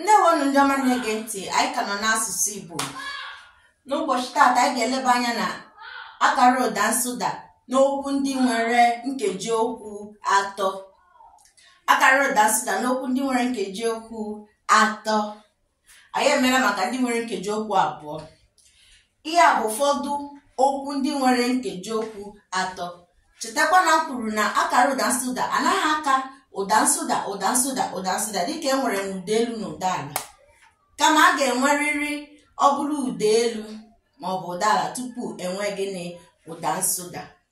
ndewonu ndị ọma na-ege ntị anyị ka nọ n'asụsụ Igbo n'ụbọchị taata anyị ga-eleba anya na akara ụda nsụda n'okwu ndị nwere nkeji okwu atọ akara ụda nsụda n'okwu ndị nwere nkeji okwu atọ anyị emeela maka ndị nwere nkeji okwu abụọ Ihe a bụ ụfọdụ okwu ndị nwere nkeji okwu atọ. Chetakwa na m kwuru na akara ụda nsụda anaghị aka ụda nsụda ụda nsụda ụda nsụda dịka e nwere n'ụda elu na ụda ala. Kama a ga-enwerịrị ọ bụrụ ụda elu maọbụ ụda ala tupu e nwee gịnị ụda nsụda.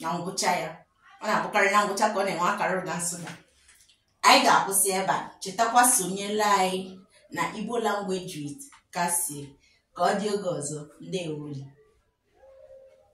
na ngwụcha ya ọ na-abụkarị na ngwụcha ka ọ na-enwe akara ụda nsụda anyị ga-akwụsị ebe a chetakwa sonyela anyị na igbo language with kasie ka ọ dị oge ọzọ ndewonu